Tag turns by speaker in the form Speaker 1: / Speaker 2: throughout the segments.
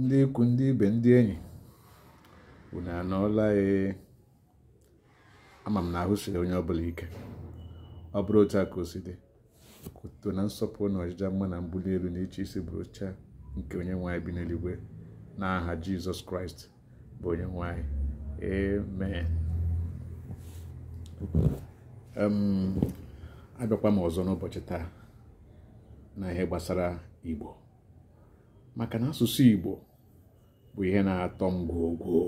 Speaker 1: ndị ikwu ndị ibe ndị enyi unu anọọla ee ama m na ahụ siri onye ọbụla ike ọ bụrụ otu a ka o si dị ka otuto na nsọpụrụ na ọjịja mma na mbuli elu na ịchị isi bụrụcha nke onye nwe anyị bi n'eluigwe n'aha jizọs kraịst bụ onye nwe anyị amen abịakwa m ọzọ n'ụbọchị taa na ihe gbasara igbo maka na asụsụ igbo bụ ihe na-atọ m gwogwo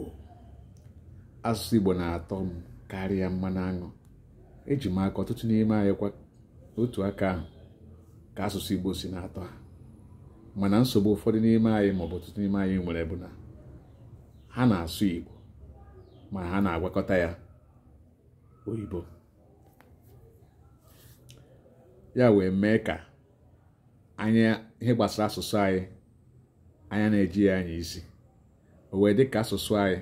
Speaker 1: asụsụ igbo na-atọ m karịa mmanụ aṅụ eji m aka ọtụtụ n'ime anyị kwa otu aka ahụ ka asụsụ Igbo si na-atọ ha mana nsogbu ụfọdụ n'ime anyị maọbụ ọtụtụ n'ime anyị nwere bụ na ha na-asụ Igbo ma ha na-agwakọta ya oyibo ya wee mee ka anyị ihe gbasara asụsụ anyị anyị anaghị eji ya anya isi o wee dị ka asụsụ anyị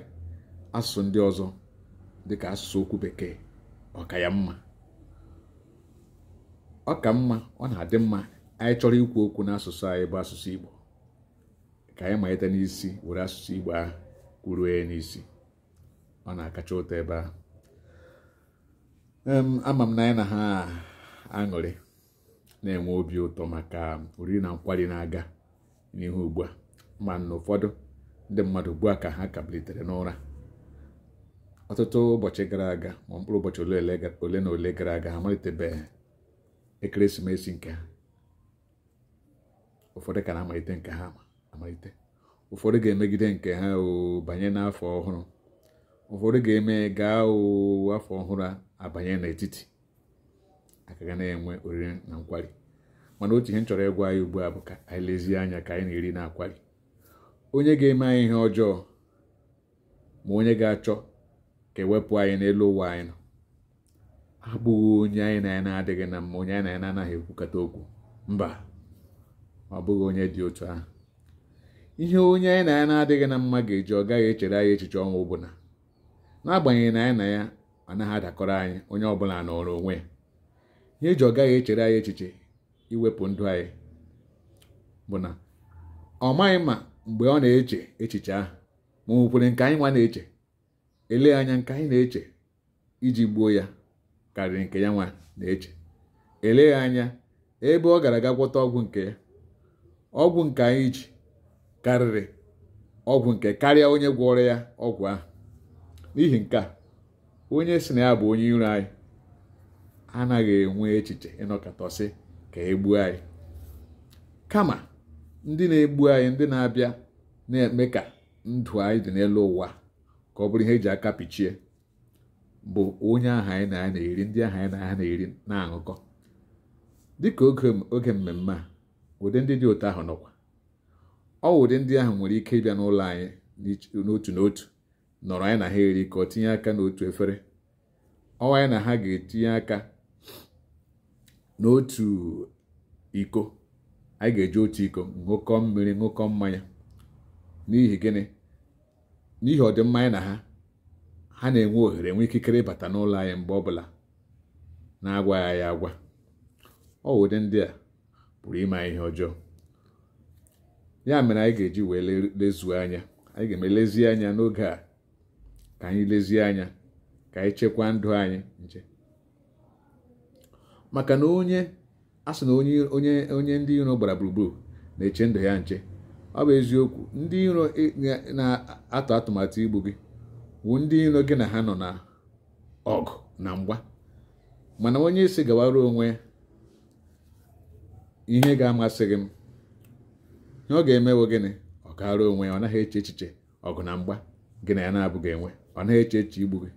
Speaker 1: asụsụ ndị ọzọ dị ka asụsụ okwu bekee ọ ka ya mma ọ ka mma ọ na-adị mma anyị chọrọ ikwu okwu n'asụsụ anyị bụ asụsụ Igbo ka anyị malite n'isi were asụsụ Igbo ahụ kwuruo ya n'isi ọ na-akacha ụtọ ebe ahụ ama m na anyị na ha aṅụrị na-enwe obi ụtọ maka oriri na nkwari na-aga n'ihu ugbu a mana ụfọdụ ndị mmadụ ugbu a ka ha ka bilitere n'ụra ọtụtụ ụbọchị gara aga ma mkpụrụ ụbọchị ole ole ga- ole na ole gara aga ha amalitebeghị ekeresimesi nke ha ụfọdụ ka na-amalite nke ha amalite ụfọdụ ga-emegide nke ha o banye n'afọ ọhụrụ ụfọdụ ga-eme gaa afọ ọhụrụ abanye n'etiti a ka ga na-enwe oriri na nkwari mana otu ihe m chọrọ ịgwa anyị ugbu a bụ ka anyị lezie anya ka anyị na-eri na-akwari onye ga-eme anyị ihe ọjọọ ma onye ga-achọ ka e wepụ anyị n'elu ụwa anyị nọ abụghị onye anyị na ya na-adịghị na mma onye anyị na ya na-anaghị ekwukọta okwu mba ọ bụghị onye dị otu ahụ ihe onye anyị na ya na-adịghị na mma ga-eji ọ gaghị echere anyị echiche ọnwụ bụ na n'agbanyeghị na anyị na ya anaghị adakọrọ anyị onye ọbụla nọrọ onwe ya ihe e ji ọ gaghị echere anyị echiche iwepụ ndụ anyị bụ na ọ maghị ma mgbe ọ na-eche echiche ahụ ma o nwekwere nke anyị nwa na-eche eleghị anya nke anyị na-eche iji gbuo ya karịrị nke ya nwa na-eche eleghị anya ebe ọ gara aga gwọta ọgwụ nke ya ọgwụ nke anyị ji karịrị ọgwụ nke karịa onye gwọrọ ya ọgwụ ahụ n'ihi nke a onye si na ya bụ onye iro anyị anaghị enwe echiche ịnọkọtasị ka egbuo anyị kama ndị na-egbu anyị ndị na-abịa na-eme ka ndụ anyị dị n'elu ụwa ka ọ bụrụ ihe eji aka pichie bụ onye ahụ anyị na ya na-eri ndị ahụ anyị na ha na-eri na-aṅụkọ dịka oge mmemme a ụdị ndị dị otu ahụ nọkwa ọ ụdị ndị ahụ nwere ike ịbịa n'ụlọ anyị n'otu n'otu nọrọ anyị na ha erikọọ tinye aka n'otu efere ọ wụ anyị na ha ga-etinye aka n'otu iko anyị ga-eji otu iko ṅụkọ mmiri ṅụkọ mmanya n'ihi gịnị n'ihi ọdịmma anyị na ha ha na-enwe ohere enwe ikikere ịbata n'ụlọ anyị mgbe ọbụla na-agwaghị anyị agwa ọ ụdị ndị a pụrụ ime ihe ọjọọ ya mere anyị ga-eji wee lezuo anya anyị ga-eme lezie anya n'oge a ka anyị lezie anya ka anyị chekwaa ndụ anyị nche maka na onye a sị na onye ndị iro gbara gburugburu na-eche ndụ ya nche ọ bụ eziokwu ndị iro na-atụ atụmatụ igbu gị bụ ndị iro gị na ha nọ na ọgụ na mgba mana onye ị sị gawara onwe ihe gị amasịghị m ihe ọ ga-eme wụ gịnị ọ gaara onwe ya ọ naghị eche echiche ọgụ na mgba gị na ya na-abụghị enwe ọ naghị eche echiche igbu gị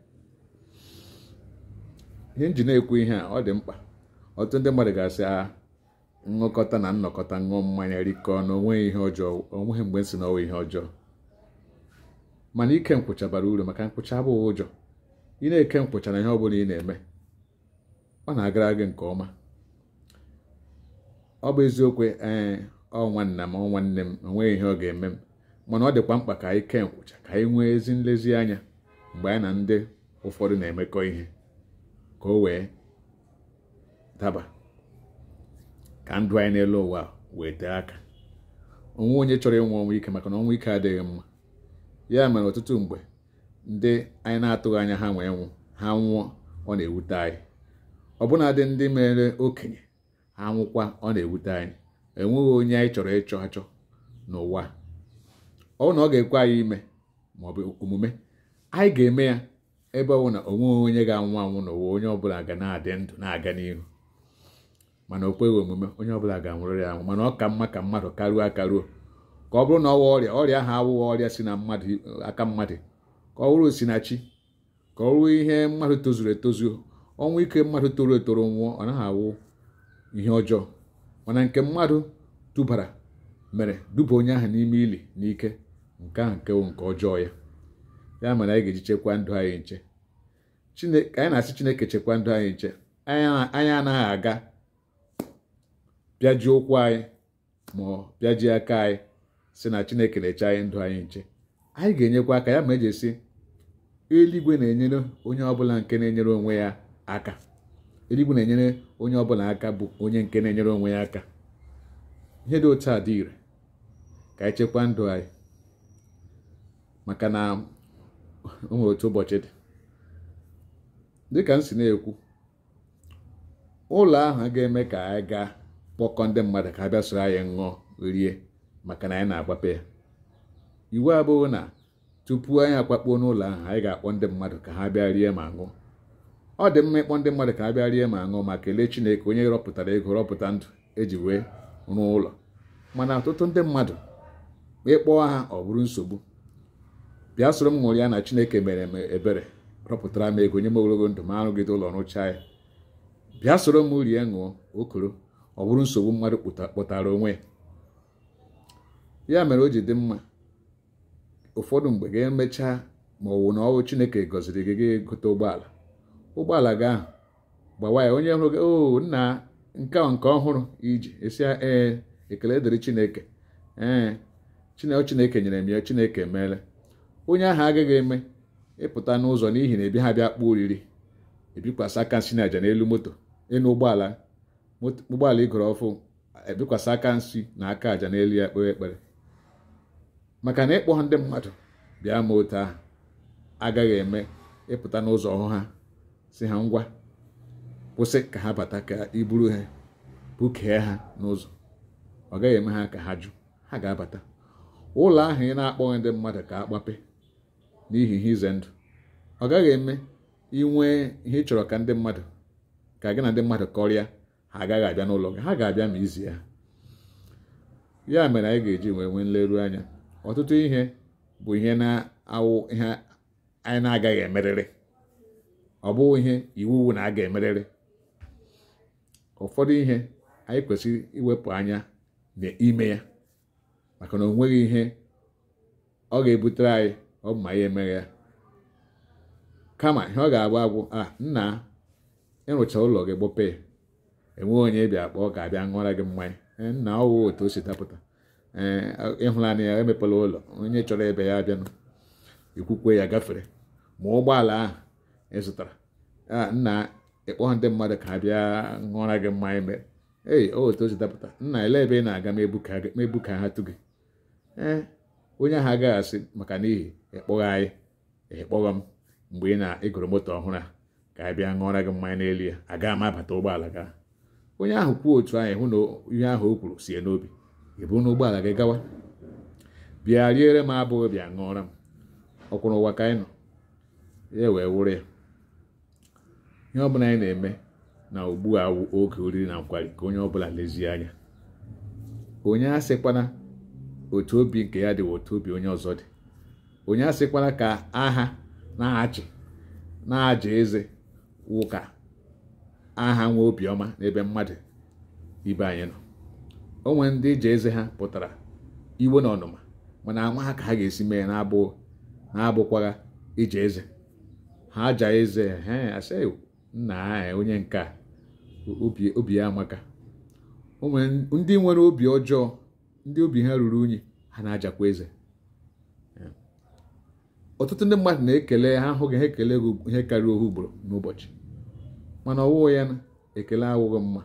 Speaker 1: ihe m ji na-ekwu ihe a ọ dị mkpa ọtụtụ ndị mmadụ ga-asị a ah, ṅụkọta na nnọkọta ṅụọ mmanya rikọọ na onweghị ihe ọjọọ onweghị mgbe m sị na ọ wụ ihe ọjọọ mana ike nkwụcha bara uru maka nkwụcha abụghị ụjọ ị na-eke nkwụcha na ihe ọ bụla ị na-eme ọ na-agara gị nke ọma ọ bụ eziokwu ee ọ nwanna m ọ nwanne m onweghị ihe ọ ga-eme m mana ọ dịkwa mkpa ka anyị kee nkwụcha ka anyị nwee ezi nlezianya mgbe anyị na ndị ụfọdụ na-emekọ ihe ka o wee daba ka ndụ anyị n'elu ụwa wee tee aka onweghị onye chọrọ ịnwụ ọnwụ ike maka na ọnwụ ike adịghị mma ya mere ọtụtụ mgbe ndị anyị na-atụghị anya ha wee nwụọ ha nwụọ ọ na-ewute anyị ọbụnadị ndị mere okenye ha nwụkwa ọ na-ewute anyị enweghị onye anyị chọrọ ịchọ achọ n'ụwa ọ bụ na ọ ga-ekwe anyị ime ma ọ bụ o kwe omume anyị ga-eme ya ebe ọ wụ na onweghị onye ga-anwụ anwụ n'ụwa onye ọbụla ga na-adị ndụ na-aga n'ihu mana o kweghị omume onye ọbụla ga-anwụrịrị anwụ mana ọ ka mma ka mmadụ karuo akaruo ka ọ bụrụ na ọ wụ ọrịa ọrịa ahụ awụghị ọrịa si na mmadụ aka mmadụ ka ọ bụrụ si na chi ka ọ wụrụ ihe mmadụ tozuru etozu ọnwụ ike mmadụ toro etoro nwụọ ọ naghị awụ ihe ọjọọ mana nke mmadụ dubara mere duba onye ahụ n'ime ili n'ike nke ahụ nke wụ nke ọjọọ ya ya mere anyị ga-eji chekwa ndụ anyị nche Chineke anyị na-asị Chineke chekwa ndụ anyị nche anyị anaghị aga bịaji ụkwụ anyị ma ọ bịaji aka anyị sị na Chineke na-eche anyị ndụ anyị nche anyị ga-enyekwa aka ya ma eji asị eluigwe na-enyere onye ọbụla nke na-enyere onwe ya aka eluigwe na-enyere onye ọbụla aka bụ onye nke na-enyere onwe ya aka ihe dị otu a dị ire ka anyị chekwa ndụ anyị maka na o nwere otu ụbọchị dị dịka m si na-ekwu ụlọ ahụ ga-eme ka anyị gaa kpọkọ ndị mmadụ ka ha bịa soro anyị ṅụọ rie maka na anyị na-agbape ya iwu abụghị na tupu anyị akwakpuo n'ụlọ ahụ anyị ga-akpọ ndị mmadụ ka ha bịa rie ma ṅụọ ọ dị mma ịkpọ ndị mmadụ ka ha bịa rie ma ṅụọ ma kelee Chineke onye rọpụtara ego rọpụta ndụ eji wee rụọ ụlọ mana ọtụtụ ndị mmadụ ị kpọọ ha ọ bụrụ nsogbu bịa soro m ṅụrịa na Chineke mere m ebere rọpụtara m ego nye m ogologo ndụ mụ arụgide ụlọ rụchaa ya bịa soro m rie ṅụọ okoro ọ bụrụ nsogbu mmadụ kpọtara onwe ya ya mere o ji dị mma ụfọdụ mgbe ga-emecha ma ọ wụ na ọ wụ chineke gọziri gị gị gote ụgbọala ụgbọala gị ahụ gbawa ya onye hụrụ gị o oh, nna nke nke ọhụrụ i ji ị sị ya ee ekele dịrị chineke ee chineke chineke nyere m ya chineke emeela onye ahụ agaghị eme ị pụta n'ụzọ n'ihi na ebi ha bịa kpọọ oriri ebikwasị aka nsị na aja n'elu moto enu ụgbọala ụgbọala i goro ọfụ ebikwasị aka nsị na aka aja n'elu ya kpee ekpere maka na ị kpọghị ndị mmadụ bịa mee otu ahụ agaghị eme ị pụta n'ụzọ hụ ha sị ha ngwa kwụsị ka ha bata ka i buru ha bukee ha n'ụzọ ọ gaghị eme ha ka ha jụ ha ga-abata ụlọ ahụ ị na-akpọghị ndị mmadụ ka agbape n'ihi ihe ize ndụ ọ gaghị eme i nwee ihe ị chọrọ ka ndị mmadụ ka gị na ndị mmadụ kọrịa ha agaghị abịa n'ụlọ gị ha ga-abịa ma i zie ha ya mere anyị ga-eji wee nwee nleru anya ọtụtụ ihe bụ ihe na-awụ ihe anyị na-agaghị emerịrị ọ bụghị ihe iwu wu na a ga-emerịrị ụfọdụ ihe anyị kwesịrị iwepụ anya n'ime ya maka na o nweghị ihe ọ ga-ebutere anyị ọ bụ ma ya emeghị ya kama ihe ọ ga-agwa agwụ a ah, nna ịrụcha ụlọ gị gbope ya enweghị onye bịa kpọọ ka a bịa ṅụọra gị mmanya eh, nna ọwụ otu o si dapụta eh, ịhụlanị ya emepela ụlọ onye chọrọ ebe ya abịanụ ikwukwe ya gafere ma ụgbọala ahụ ị zụtara ah, nna ịkpọghị ndị mmadụ ka a bịa ṅụọra gị mmanya mee ei o otu o si dapụta nna ele ebe ị na-aga ma ebu ka ha- ma ebu ka ha tụ gị ee onye ahụ agaghị asị maka n'ihi ịkpọghị anyị ịkpọghọ m mgbe ị na-egoro moto ọhụrụ a ka anyị bịa ṅụọra gị mmanya n'elu ya agaghị m abata ụgbọala gị onye ahụ kwuo otu ahụ ịhụ na ihe ahụ o kwuru si ya n'obi ị buru ụgbọala gị gawa bịa riere m abụghị bịa ṅụọra m ọkwụrụ ụwa ka anyị nọ ya wee wụrụ ya ihe ọbụla anyị na-eme na ugbu a wụ oge oriri na nkwari ka onye ọbụla lezie anya onye asịkwana otu obi nke ya dị wụ otu obi onye ọzọ dị onye asịkwana ka a ha na-achị na-aja eze wụ ka a ha nwee obiọma n'ebe mmadụ ibe anyị nọ o nwere ndị ịja eze ha pụtara iwe na ọnụma mana ama ha ka ha ga-esi mee na-abụghị na-abụkwaghị ịja eze ha aja eze ha asị nna onye nke a obi ya amaka o nwere ndị nwere obi ọjọọ ndị obi ha ruru unyi ha na-ajakwa eze ọtụtụ ndị mmadụ na-ekele ha hụ gị ha ekele gị ihe karịa ohu ugboro n'ụbọchị mana ọ wụ ya na ekele awụghị mma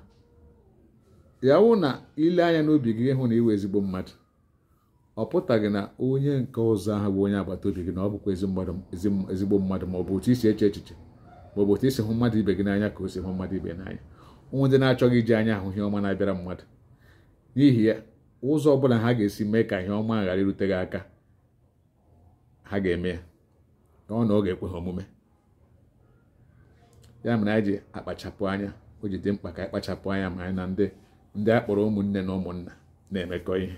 Speaker 1: ya wụ na ile anya n'obi gị ịhụ na ị wụ ezigbo mmadụ ọ pụtaghị na onye nke ọzọ ahụ bụ onye agbata obi gị na ọ bụkwa ezigbo mmadụ ma ọ bụ otu i si eche echiche ma ọ bụ otu i si hụ mmadụ ibe gị n'anya ka o si hụ mmadụ ibe n'anya o nwere ndị na-achọghị iji anya ahụ ihe ọma na-abịara mmadụ n'ihi ya ụzọ ọbụla ha ga-esi mee ka ihe ọma ghara irute gị aka ha ga-eme ya ọ na ọ ga-ekwe ha omume ya mere anyị ji akpachapụ anya o ji dị mkpa ka anyị kpachapụ anya ma anyị na ndị ndị a kpọrọ ụmụnne na ụmụnna na-emekọ ihe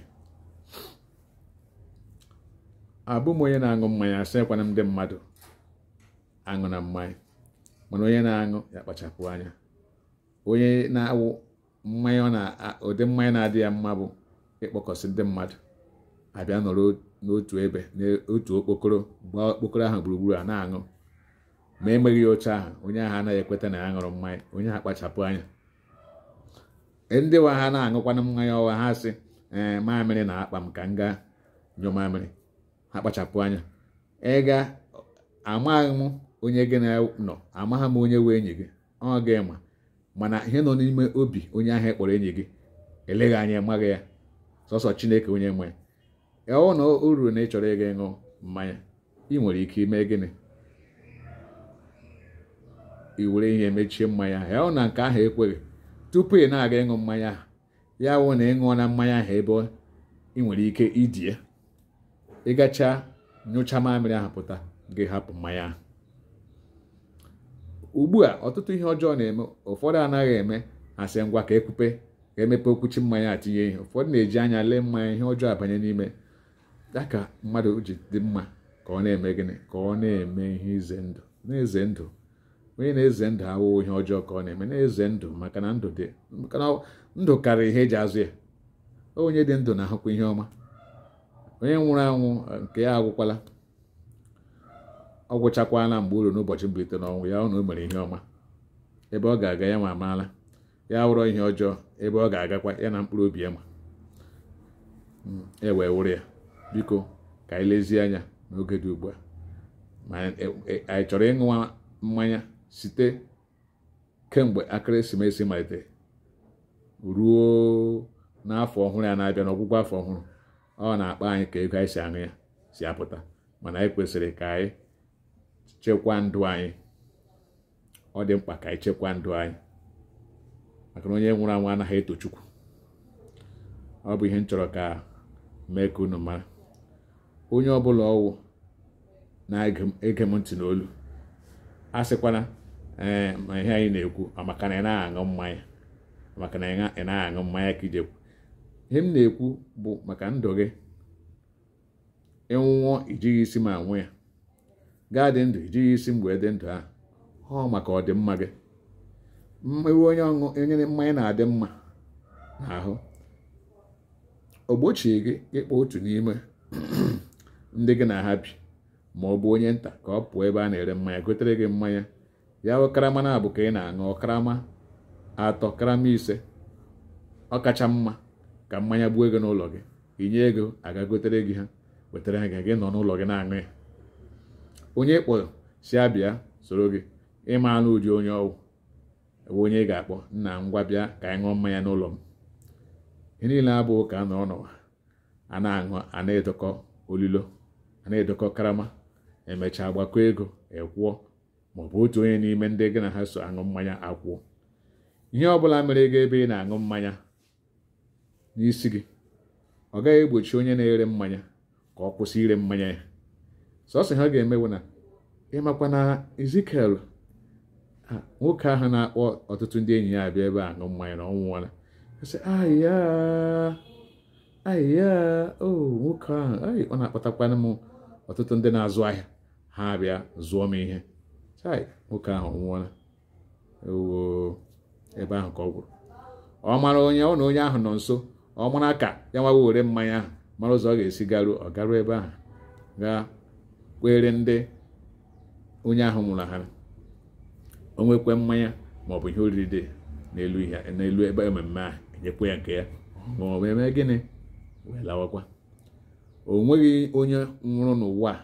Speaker 1: abụ m onye na-aṅụ mmanya asịkwana m ndị mmadụ aṅụna mmanya mana onye na-aṅụ ya kpachapụ anya onye na-aṅụ mmanya na ụdị mmanya na-adị ya mma bụ ịkpọkọsị ndị mmadụ abịa nọrọ n'otu ebe n'otu okpokoro gbaa okpokoro ahụ gburugburu a na-aṅụ ma emeghị ya otu ahụ onye ahụ anaghị ekweta na ya ṅụrụ mmanya onye ahụ kpachapụ anya e, ndị wụ ha na-aṅụkwanụ mmanya ọwa ha sị ee mamịrị na-akpa m ka m gaa nyụ mamịrị ha kpachapụ anya ịga amaghị m onye gị na ya nọ amaghị m onye wụ enyi gị ọ gị ma mana ihe nọ n'ime obi onye ahụ ị kpọrọ enyi gị eleghị anya ị maghị ya sọsọ chineke onye nwe ya ọ wụ na o ruru na ị chọrọ ịga ịṅụ mmanya ị nwere ike ime gịnị i were ihe mechie mmanya ahụ ya wụ na nke ahụ ekweghị tupu ị na-aga ịṅụ mmanya ahụ ya wụ na ị ṅụọna mmanya ahụ ebe ị nwere ike idi ya ị gachaa nyụchaa mamịrị ahụ pụta gị hapụ mmanya ahụ ugbu a ọtụtụ ihe ọjọọ na-eme ụfọdụ anaghị eme a sị ngwa ka e kwupe ka e mepe okwuchi mmanya atinye ihe ụfọdụ na-eji anya lee mmanya ihe ọjọọ abanye n'ime ya ka mmadụ ji dị mma ka ọ na-eme gịnị ka ọ na-eme ihe ize ndụ na-eze ndụ onye na-eze ndụ awụghị ihe ọjọọ ka ọ na-eme na-eze ndụ maka na ndụ karịrị ihe e ji azụ ya onye dị ndụ na-ahụkwa ihe ọma onye nwụrụ anwụ nke ya agwụkwala ọ gwụchakwala mgbe o ruru n'ụbọchị mbilite n'ọnwụ ya wụ na o mere ihe ọma ebe ọ ga-aga ya nwa amaala ya wụrụ ihe ọjọọ ebe ọ ga-agakwa ya na mkpụrụ obi ya ma hmm, e wee wụrụ ya biko ka anyị lezie anya n'oge dị ugbu a ma e, e, anyị chọrọ ịṅụwa mmanya site kemgbe ekeresimesi malite ruo n'afọ ọhụrụ a na-abịa n'ọgwụgwụ afọ ọhụrụ ọ wụ n'akpa anyị ka ego anyị si aṅụ ya si apụta mana anyị kwesịrị ka anyị chekwaa ndụ anyị ọ dị mkpa ka anyị chekwa ndụ anyị maka na onye nwụrụ anwụ anaghị eto chukwu ọ bụ ihe m chọrọ ka m mee ka unu mara onye ọbụla ọ wụ na-ege m ntị n'olu asịkwana ee ma ihe anyị na-ekwu ọ maka na ị naghị aṅụ mmanya maka na ị naghị aṅụ mmanya ka i ji ekwu ihe m na-ekwu bụ maka ndụ gị ị nwụọ i jighị isi m anwụ ya ga-adị ndụ i jighị isi mgbe dị ndụ ahụ ọ maka ọdịmma gị ma ị wụ onye ọṅụ onye mmanya na-adị mma n'ahụ o gbochie gị ịkpọ otu n'ime ndị gị na ha bi ma ọ bụ onye nta ka ọ pụọ ebe a na-ere mmanya gotere gị mmanya ya bụ karama naabọ ka ị na-aṅụ karama atọ karama ise ọ kacha mma ka mmanya gbuo gị n'ụlọ gị i nye ego a gaa gotere gị ha wetara gị gị nọ n'ụlọ gị na-aṅụ ya onye ị kpọrọ sị ya bịa soro gị ị manụ ụdị onye ọ wụ e nwe onye ị ga-akpọ nna ngwa bịa ka anyị ṅụọ mmanya n'ụlọ m ihe niile abụghị ka a nọrọ n'ụwa a na-aṅụ a na-edokọ ololo a na-edokọ karama e mechaa agbakọ ego akwụọ ma ọ bụ otu onye n'ime ndị gị na ha so aṅụ mmanya akwụọ ihe ọ bụla mere gị ebe ị na-aṅụ mmanya n'isi gị ọ gaghị egbochi onye na-ere mmanya ka ọ kwụsị ire mmanya ya sọsọ ihe ọ ga-eme wụ na ị makwa na Ezikiel nwoke ahụ na-akpọ ọtụtụ ndị enyi ya abịa ebe a aṅụ mmanya na ọ nwụọla sị ahịa ahịa o nwoke ahụ ọ na-akpatakwana m ọtụtụ ndị na-azụ ahịa ha abịa zụọ m ihe chai nwoke ahụ nwụọla ebe ahụ ka ọ gwụrụ ọ mara onye ọ na onye ahụ nọ nso ọ mara ka ya nwa were mmanya ahụ mara ụzọ ọ ga-esi garuo ọ garuo ebe ahụ gaa kwere ndị onye ahụ nwụrụ ha o nwekwa mmanya ma ọ bụ ihe oriri dị n'elu ihe n'elu ebe ememme ahụ e nyekwa ya nke ya ma ọ bụ eme gịnị wee lawakwa o nweghị onye nwụrụ n'ụwa a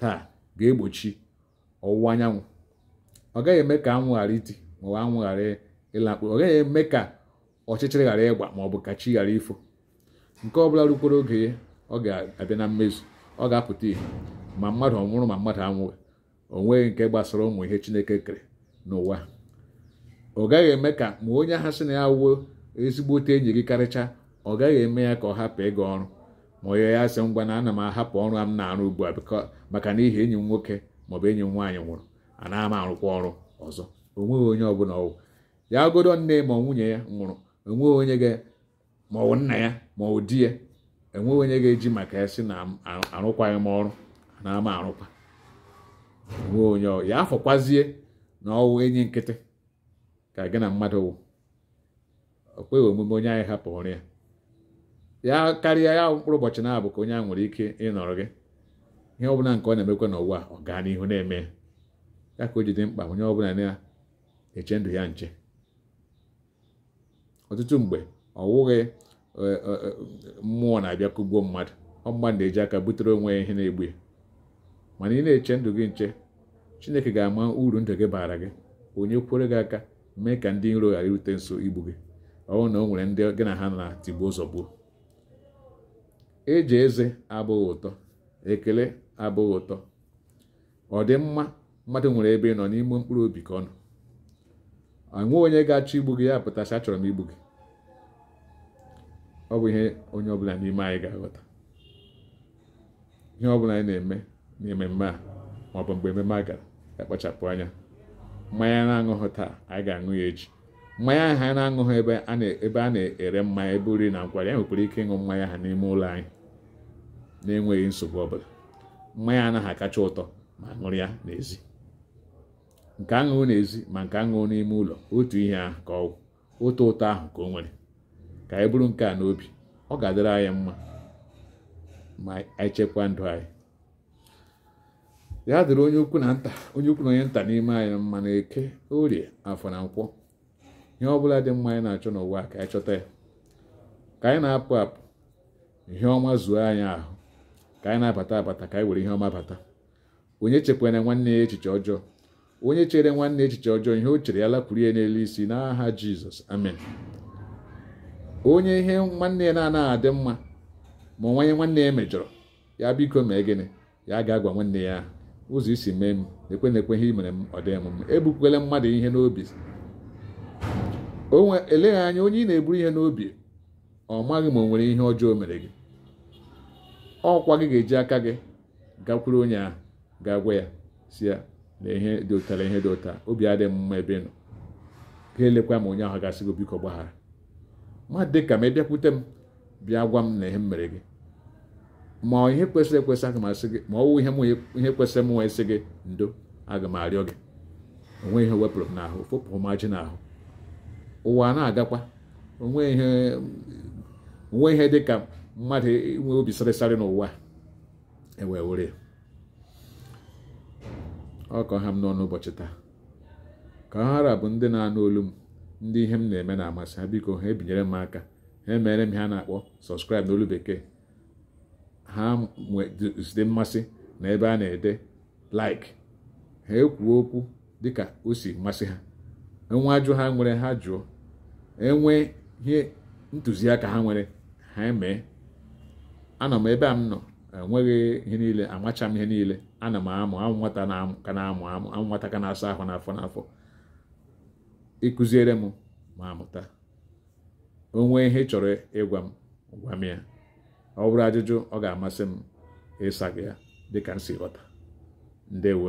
Speaker 1: taa ga-egbochi ọwụwa anyanwụ ọ gaghị eme ka anwụ ghara iti ma ọ bụ anwụ ghara ịlakpu ọ gaghị eme ka ọchịchịrị ghara ịgba ma ọ bụ ka chi ghara ifo nke ọ bụla rukwere oge ya ọ ga-abịa na mmezu ọ ga-apụta ihe ma mmadụ ọ nwụrụ ma mmadụ anwụghị o nweghị nke gbasara ụmụ ihe Chineke kere n'ụwa ọ gaghị eme ka ma onye ahụ sị na ya wụ ezigbote enyi gị karịcha ọ gaghị eme ya ka ọ hapụ ịga ọrụ ma onye ya sị ngwa na ana m ahapụ ọrụ a m na-arụ ugbu a maka n'ihi enyi m nwoke maọbụ enyi m nwaanyị nwụrụ anaghị m arụkwa ọrụ ọzọ o nweghị onye ọbụla ọ wụ ya godo nne ma nwunye ya nwụrụ o nweghị onye ga ma ọ bụ nna ya ma ọ bụ di ya enweghị onye ga-eji maka ya sị na arụkwaghị m ọrụ na ama arụkwa enweghị onye ya afọkwazie na ọ wụ enyi nkịtị ka gị na mmadụ wụ o kweghị omume onye ahụ ịhapụ ọrụ ya ya karịa ya mkpụrụ ụbọchị naabọ ka onye ahụ nwere ike ịnọrọ gị ihe ọbụla nke ọ na-emekwa n'ụwa ọ gaa n'ihu na-eme ya ka o ji dị mkpa onye ọbụla na-eche ndụ ya nche ọtụtụ mgbe ọ wụghị e, e, e, mmụọ na-abịa kụgbuo mmadụ ọ mmadụ na-eji aka butere onwe ya ihe na-egbu ya mana ị na-eche ndụ gị nche chineke ga-ama uru ndụ gị baara gị o nyekwere gị aka mee ka ndị iro ghara irute nso igbu gị ọ wụrụ na o nwere ndị gị na ha na tigbuo zọgbuo eji eze abụghị ụtọ ekele abụghị ụtọ ọdịmma mmadụ nwere ebe ị nọ n'ime mkpụrụ obi ka ọ nọ enwe onye ga-achọ igbu gị ya pụta sị achọrọ m igbu gị ọ bụ ihe onye ọbụla n'ime anyị ga-aghọta ihe ọbụla anyị na-eme n'ememme a ma ọ bụ mgbe ememme a gara akpachapụ anya mmanya na-aṅụghị taa anyị ga-aṅụ ya echi mmanya ahụ anyị na-aṅụghị ebe a na-ere mmanya ebe oriri na nkwari anyị nwekwara ike ịṅụ mmanya ahụ n'ime ụlọ anyị na-enweghị nsogbu ọbụla mmanya anaghị akacha ụtọ ma ṅụrụ ya n'ezi nke a ṅụrụ n'ezi ma nke a ṅụrụ n'ime ụlọ otu ihe ahụ ka ọ wụ otu ụtọ ahụ ka o nwere ka anyị buru nke a n'obi ọ ga-adịrị anyị mma ma anyị chekwa ndụ anyị ya dịrị onye ukwu na nta onye ukwu na onye nta n'ime anyị mma na eke orie afọ na nkwọ ihe ọ bụla dị mma anyị na-achọ n'ụwa ka anyị chọta ya ka anyị na-apụ apụ ihe ọma zuo anyị ahụ ka anyị na-abata abata ka anyị were ihe ọma bata onye chekwara nwanne ya echiche ọjọọ onye chere nwanne echiche ọjọọ ihe o chere ya lakwuru ya n'elu isi n'aha jizọs amen onye ihe nwanne ya na-anaghị adị mma ma ọ wụ onye nwanne ya mejọrọ ya biko mee gịnị ya gaa gwa nwanne ya ụzọ i si mee m lekwe lekwe ihe i mere m ọ dịghị m mma ebukwele mmadụ ihe n'obi eleghị anya onye ị na-eburu ihe n'obi ọ maghị ma o nwere ihe ọjọọ o mere gị ọ kwa gị ga-eji aka gị gakwuru onye ahụ gaa gwa ya sị ya na ihe dị otu a ihe dị otu a obi adịghị m mma ebe ị nọ ka i lekwa ma onye ahụ ga-asị gị biko gbaghara ma dị ka m ị bịakwute m bịa gwa m na ihe m mere gị ma ihe kwesịrị ekwesị aga m asị gị ma ọ wụ ihe m ihe kwesịrị m wee sị gị ndo aga m arịọ gị o nweghị ihe o wepụrụ m n'ahụ fopụ m ajị n'ahụ ụwa na-agakwa o nweghị ihe o nweghị ihe dị ka mmadụ inwe obi sịrịsarị n'ụwa e wee were ya ọ ka ọ ha m n'ọnụ ụbọchị taa ka ha ra bụ ndị na-anụ olu m ndị ihe m na-eme na-amasị ha biko ha ebinyere m aka ha emere m ihe a na-akpọ subscribe n'olu bekee ha nwezide mmasị na ebe a na-ede like ha ekwuo okwu dịka o si masị ha e nwee ajụjụ ha nwere ha jụọ e nwee ihe ntụziaka ha nwere ha emee anọ m ebe a m nọ enweghị ihe niile amachaghị m ihe niile ana m amụ amụ nwata ka na-amụ amụ amụ nwata ka na-asa ahụ n'afọ n'afọ ị kụziere m mụ amụta o nwee ihe ị chọrọ ịgwa m gwa m ya ọ bụrụ ajụjụ ọ ga-amasị m ịsa gị ya dịka m si ghọta ndewo